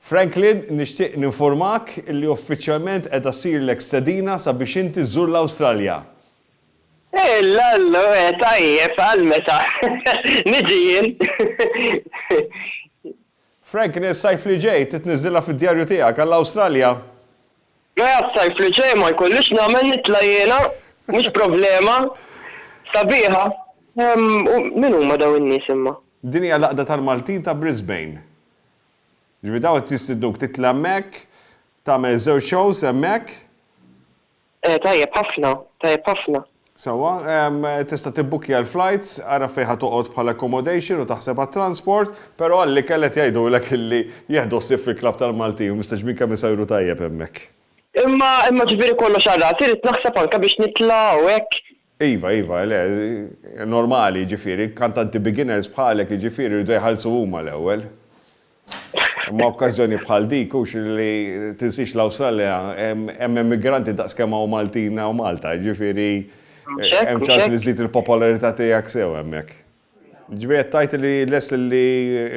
Franklin, nixtieq ninfurmak li uffiċjalment qiegħda ssirlek stedina sabiex inti żżur l-Awstralja. L-allu, eh, tajjeb, għal meta? Niġi jien? Franklin, is-sajf li ġej trid tniżżilha fid-djarju tiegħek għall-Awstralja. Mela s-sajf li ġej ma jkollix nagħmel nitla' jiena? Mhux problema. Sabiħa. U min huma dawn in-nies imma? Din hija l-għaqda tal-Maltin ta' Brisbane. Jiġifieri dawn qed jistidnuk titla' hemmhekk, tagħmel żewġ shows hemmhekk. Eh tajjeb ħafna, tajjeb ħafna. Sewwa, tista' tibbukkja l-flajts, għarraf fejn ħa toqgħod bħala accommodation u taħseb għat-transport, però għall-ikel qed jgħidulek illi jieħdu ħsieb fil-Klabb tal-Maltin u mistgħeġbin kemm isajru tajjeb hemmhekk. Imma, imma ġifieri kollox għal rasi, rrid naħseb anke biex nitla' u hekk? Iva, iva, le, normali jiġifieri, kantanti beginners bħalek jiġifieri jridu jħallsu huma l-ewwel. Imma okkażjoni bħal dik hux li tinsiex l-Awstralja hemm immigranti daqs kemm hawn Maltin hawn Malta, jiġifieri hemm ċans li żżid il-popolarità tiegħek sew hemmhekk. Jiġifieri qed tgħid li lest li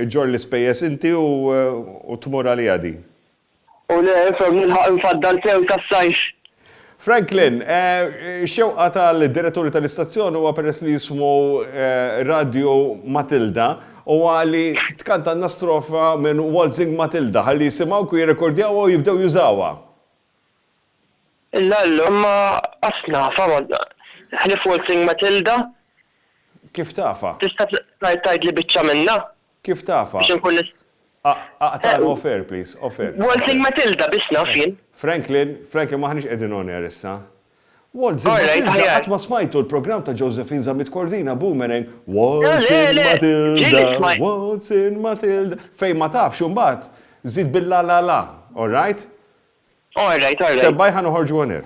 ġġorr l-ispejjeż inti u tmur għaliha din. U le, from l-ilħaq imfaddal sew tas-sajf. Franklin, Ix-xewqa tal-diretturi tal-istazzjon huwa peress li jismgħu radju Matilda, huwa li tkantalna strofa minn Waltzing Matilda ħalli jisimgħuk u jirrekordjawha u jibdew jużawha. Illa llum ma qas nafha ħlief Waltzing Matilda. Kif tafha? Tista' tgħidli biċċa minnha? Kif tafha? Biex inkun nista'. Aqtagħna off-air please, off-air. Waltzing Matilda biss naf jien. Franklin, Franklin m'aħniex qegħdin on air issa. Waltzing Matilda qatt ma smajtu l-programm ta' Josephine Zammit Cordina Boomerang Waltzing Matilda, Waltzing Matilda. Fejn ma tafx imbagħad żid bil-la la la, all right? All right, all right. Stand by ħa noħorġu on air.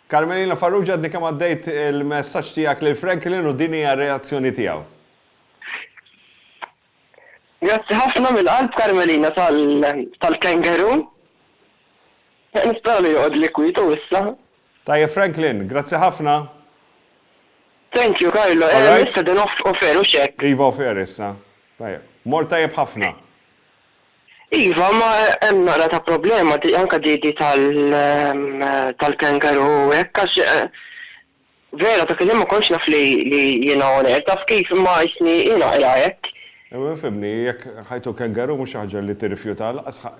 Carmelina Farrugia għadni kemm għaddejt il-messaġġ tiegħek lil Franklin u din hija r-reazzjoni tiegħu. Grazzi ħafna mill-qalb Carmelina tal-kangaroo. Nispera li joqgħod li kwietu issa. Tajjeb Franklin, grazzi ħafna. Thank you Carlo, issa din off air hux hekk. Iva off air issa. Tajjeb. Mort tajjeb ħafna. Iva, ma hemm naqra ta' problema di, anke di di tal tal-kangaroo u hekk għax vera dak il-ħin ma kontx naf li li jiena on air, taf kif imma jisni hi naqra hekk. Imma fhimni, jekk ħajtu kangaroo mhux xi ħaġa li tirrifjutaha lanqas ħa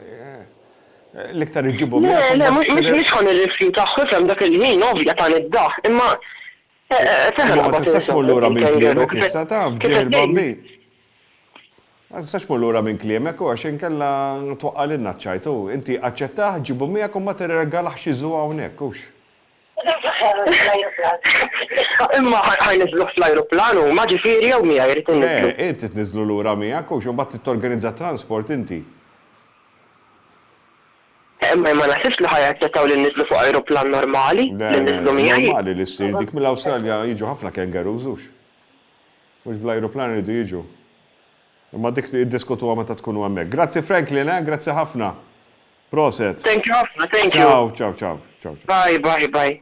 l-iktar iġġibhom miegħek u mbagħad trid. Le, le, mhux ħa nirrifjutah, ifhem dak il-ħin ovvja tani d-daħq, imma. Imma ma tistax tmur lura mill-kliem hekk issa taf, ġiegħ il-bambin. Ma tistax tmur lura minn kliemek u għax inkella twaqqa' lilna ċ-ċajt u inti aċċettah, ġibu miegħek u ma tirregalax xi żu hawnhekk, hux? Imma ħa jniżżluh fl-ajruplan huma, ġifieri jew miegħi jrid inniżżlu? Le, inti tniżżlu lura miegħek, hux? U mbagħad trid torganizza t-transport inti. Imma jien ma naħsibx li ħa jaċċettaw li nniżżlu fuq ajruplan normali, li nniżżlu miegħi. Le, le, normali li ssir dik mill-Awstralja jiġu ħafna kangaroos, hux? Mhux bl-ajruplan iridu jiġu. Imma dik iddiskutuha meta tkunu hemmhekk. Grazzi Franklin eh, grazzi ħafna. Proset. Thank you ħafna, thank you. Ciao, ciao, ciao, ciao, ciao. Bye, bye, bye.